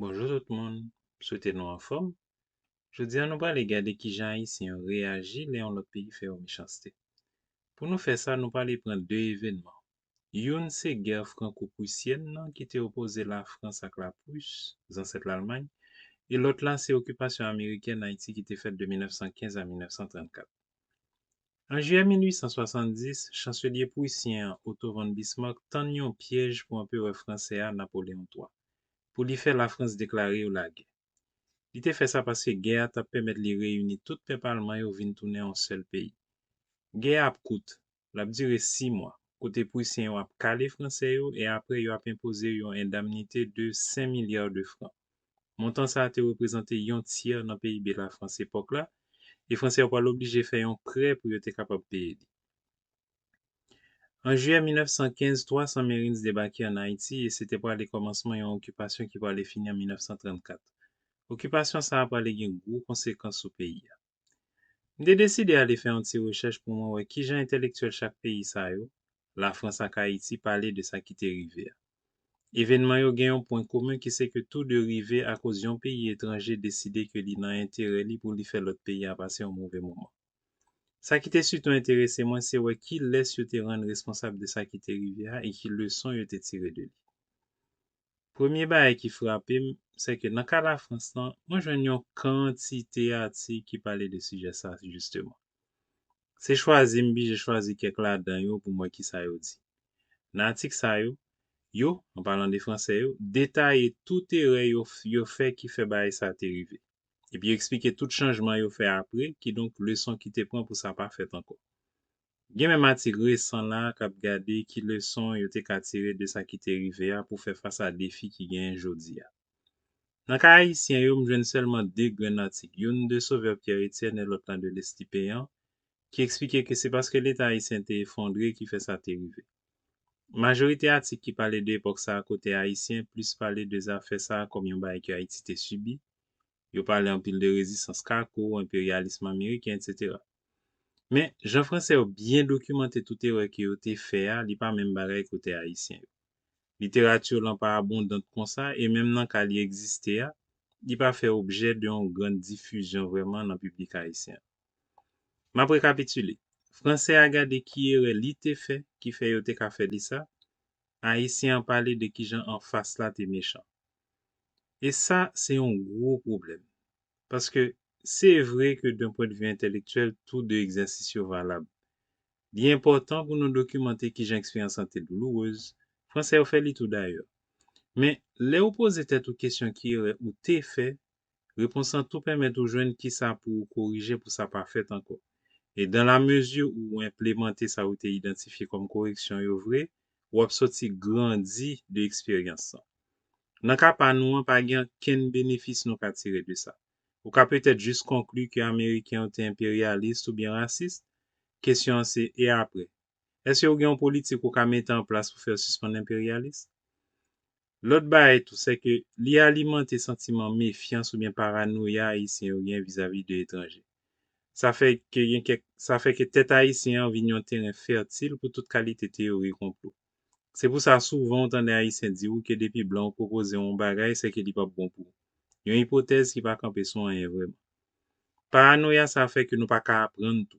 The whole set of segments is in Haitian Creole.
Bonjou tout moun, m swete nou anfòm. Jodi a nou prale gade kijan Ayisyen yo reyaji lè yon lòt peyi fè yo mechanste. Pou nou fè sa nou prale pran 2 evenman, youn se gè franko-prusyèn nan ki te opoze Lafrans ak la Prus, zansèt Lalmay, e lòt la se okipasyon amerikèn Ayiti ki te fèt de 1915 a 1934. An jiyè 1870, chanselye pruisyen an Otto von Bismarck tann yon pyèj pou anperè fransè a Napoléon iii, pou li fè Lafrans deklare yo lagè. Li te fè sa paske gè a t ap pèmèt li reyini tout pèp alman yo vin tounen yon sèl peyi. Gè a ap kout, L ap dire si mwa, kote Pwisyen yo ap kale Franse yo e apre yo ap enpoze yon endamnite de 5 milya de fran. Montan sa a te reprezante yon tyè nan PIB Lafrans epòk la e Franse yo pral oblije fè yon prè pou yo te kapab peye li. An jiyè 1915, 300 Marines debake an Ayiti e se te prale kòmansman yon okipasyon ki prale fini an 1934. Okipasyon sa a prale gen gwo konsekans sou peyi a. M te deside ale fè yon ti rechèch pou mwen wè ki jan entèlektyèl chak peyi sa yo, Lafrans ak Ayiti, pale de sa ki te rive a. Evènman yo gen yon pwen komen ki se ke tou de rive akoz yon peyi etranje deside ke li nan enterè li pou li fè lòt peyi a pase yon move moman. Sa ki te sitou enterese mwen se wè kilès yo te rann responsab de sa ki te rive a e ki leson yo te tire de li. Premye bagay ki frape m, sè ke nan ka Lafrans lan, mwen jwenn yon kantite atik ki pale de sijè sa jisteman. Se chwazi m bije chwazi kèk ladan yo pou m wè kisa yo di. Nan atik sa yo, yo, an palan de Franse yo, detaye tout erè yo yo fè ki fè bagay sa te rive. Epi yo eksplike tout chanjman yo fè apre, kidonk leson ki te pran pou sa pa fèt ankò. Gen menm atik resan la a k ap gade ki leson yo te ka tire de sa ki te rive a pou fè fas a defi ki genyen jodi a. Nan ka ayisyen yo, m jwenn sèlman de grenn atik, youn de Sauveur Pierre Etienne e lòt lan de Leslie Péan, ki eksplike ke se paske Leta ayisyen te efondre ki fè sa te rive. Majorite atik ki pale de epòk sa a kote ayisyen plis pale de zafè sa a kòm yon bagay ke Ayiti te sibi, Yo pale anpil de rezistans kako, enperyalism ameriken, etc. Men, jan Franse yo byen dokimante tout erè ke yo te fè a, li pa menm bagay ke otè Ayisyen yo. Literati yo lan pa abondant konsa e menm nan ka li egziste a, li pa fè objè de yon gran difizyon vrèman nan piblik Ayisyen an. M ap rekapitile, Franse a gade ki erè li te fè ki fè yo te ka fè li sa, Ayisyen an pale de kijan anfas la te mechan. E sa se yon gwo pwoblèm. Paske, se vre ke d'un pwen de vue entèlektyèl tou de egzèsis yo valab. Li enpòtan pou nou dokimante kijan eksperyans lan te doulourez, Fransè yo fè li tou dayè. Men, lè ou poze tèt ou kesyon ki erè ou te fè, Repons lan tou pèmèt ou jwenn kisa pou ou korije pou sa pa fèt ankò. E dan la mezi ou enplemante sa ou te idantifye kòm koreksyon yo vre, ou ap sòti grandi de eksperyans lan. Nan ka pa nou an, pa gen ankenn benefis nou ka tire de sa. Ou ka petèt jis konkli ke Ameriken yo te enperyalis oubyen rasis? Kesyon an se, e apre? Èske ou gen yon politik ou ka mete an plas pou fè yo sispann enperyalis? Lòt bagay tou, sèke li alimante santiman mefyans oubyen paranoya Ayisyen yo gen vizavi de etranje. Sa fè ke gen kèk, sa fè ke tèt Ayisyen an vin yon teren fètil pou tout kalite teyori konplo. Se pou sa souvan ou tande Ayisyen di ou ke depi blan yo pwopoze ou yon bagay, sèke li pap bon pou ou. Yon ipotèz ki pa kanpe sou anyen vrèman. Paranoya sa fè ke nou pa ka aprann tou.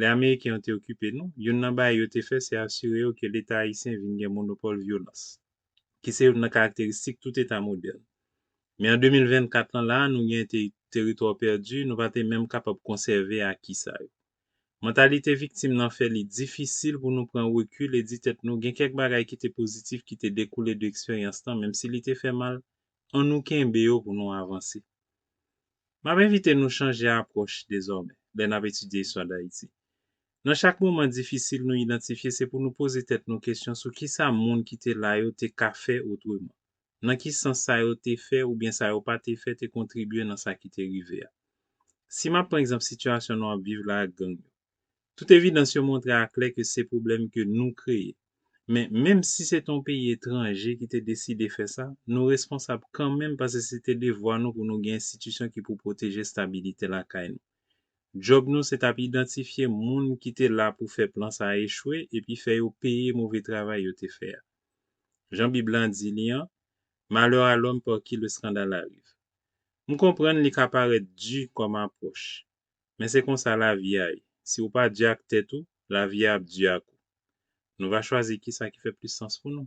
Lè Ameriken yo te okipe nou, youn nan bagay yo te fè se asire yo ke Leta ayisyen vin gen monopòl vyolans, ki se youn nan karakteristik tout Eta modèn. Men an 2024 lan la a nou gen te teritwa pèdi, nou pa te menm kapab konsève aki sa yo. Mantalite viktim lan fè li difisil pou nou pran rekil e di tèt nou gen kèk bagay ki te pozitif ki te dekoule de eksperyans lan, menm si li te fè mal, an nou kenbe yo pou nou avanse. M ap envite nou chanje apwòch dezòmè lè n ap etidye istwa Dayiti. Nan chak moman difisil nou idantifye se pou nou poze tèt nou kesyon sou kisa moun ki te la yo te ka fè otreman. Nan ki sans sa yo te fè oubyen sa yo pa te fè te kontribye nan sa ki te rive a. Si m ap pran egzanp sitiyasyon nou ap viv la ak gang yo. Tout evidans yo montre aklè ke se pwoblèm ke nou kreye. Men, menm si se te yon peyi etranje ki te deside fè sa, nou responsab kanmenm pase se te devwa nou pou nou gen enstitisyon ki pou pwoteje stabilite lakay nou. Djòb nou se t ap idantifye moun ki te la pou fè plan sa a echwe epi fè yo peye move travay yo te fè a. Jan Bib lan di li an, Malheur à l'homme par qui le scandale arrive. M konprann li ka parèt di kòm apwòch, Men se konsa lavi a ye, si ou pa di ak tèt ou, lavi a ap di ak ou. Nou va chwazi kisa ki fè plis sans pou nou.